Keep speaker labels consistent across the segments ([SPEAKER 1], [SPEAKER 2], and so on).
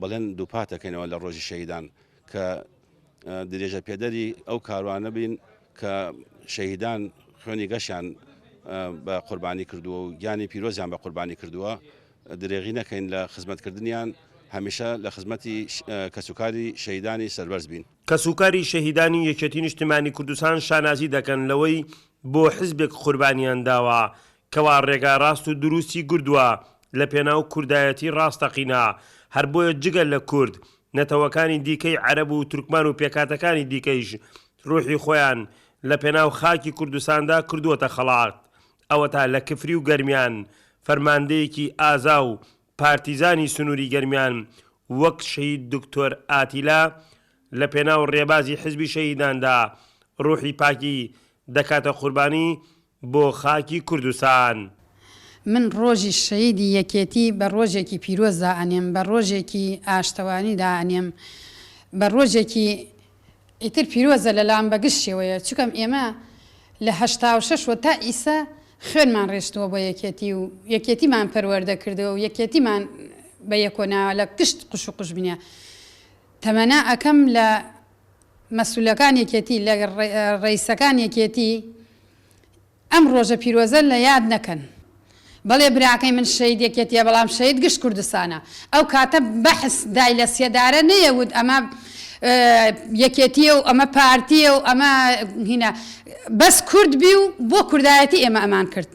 [SPEAKER 1] بەڵێن دووپات دەکەینەوە لە ڕۆژی شەهیدان کە درێژەپێدەری ئەو کاروانە بین کە شەهیدان خوێنی گەشیان بە قوربانی کردووە و گیانی پیرۆزیان بە قوربانی کردووە درێغی نەکەین لە خزمەتکردنیان هەمیشە لە خزمەتی کەسوکاری شەیدانی سەربەرز بین کەسوکاری شەهیدانی
[SPEAKER 2] یەکێتی نیشتمانی کوردستان شانازی دەکەن لەوەی بۆ حزبێک قوربانیان داوە کەوا ڕێگا ڕاست و دروستی گردوە لە پێناو کوردایەتی ڕاستەقینە، هەر بۆیە جگە لە کورد، نەتەوەکانی دیکەی عەرەب و تورکمان و پێکهاتەکانی دیکەیش ڕوحی خۆیان لە پێناو خاکی کوردستاندا کردوەتە خەڵات، ئەوەتا لە کفری و گەرمیان فەرماندەیەکی ئازا و پارتیزانی سنوری گەرمیان وەک شەهید دکتۆر ئاتیلا لە پێناو ڕێبازی حزبی شەهیداندا ڕوحی پاکی دەکاتە قوربانی بۆ خاکی کوردستان. من
[SPEAKER 3] ڕۆژی شەهیدی یەکێتی بە ڕۆژێکی پیرۆز دائەنێم، بە ڕۆژێکی ئاشتەوانی دائەنێم، بە ڕۆژێکی ئیتر پیرۆزە لەلام بە گشت شێوەیە، چونکەم ئێمە لە هەشتا و شەش وە تا ئیسە خوێنمان ڕێشتووە بۆ یەکێتی و یەکێتیمان پەروەردە کردووە و یەکێتیمان بە یەکۆ ناوە لە گشت قوش و قوژبنە تەمەنا ئەکەم لە مەسولەکان یەکێتی لە ڕئیسەکان یەکێتی ئەم ڕۆژە پیرۆزە لە یاد نەکەن بەڵێ براکەی من شەهید یەکێتیە بەڵام شەهید گشت کوردستانە ئەو کاتە بەعس دای لە سێدارە نەیە وت ئەمە یەکێتیە و ئەمە پارتیە و ئەمە هینا بەس کورد بی و بۆ کوردایەتی ئێمە ئەمان کرد.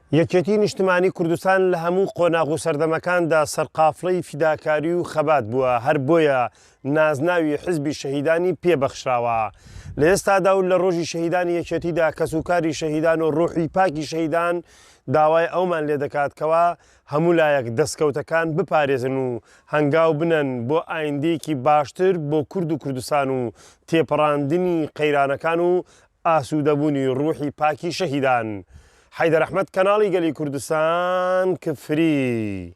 [SPEAKER 2] یەکێتی نیشتمانی کوردستان لە هەموو قۆناغ و سەردەمەکاندا سەرقافڵەی فیداکاری و خەبات بووە، هەر بۆیە نازناوی حزبی شەهیدانی پێ بەخشراوە. لە ئێستادا و لە رۆژی شەهیدانی یەکێتیدا کەسوکاری شەهیدان و روحی پاکی شەهیدان داوای ئەومان لێ دەکات کەوا هەموو لایەک دەستکەوتەکان بپارێزن و هەنگاو بنەن بۆ ئایندەیەکی باشتر بۆ کورد و کوردستان و تێپەڕاندنی قەیرانەکان و ئاسودەبونی روحی پاکی شەهیدان. حەیدەر ئەحمەد کەناڵی گەلی کوردستان کفری.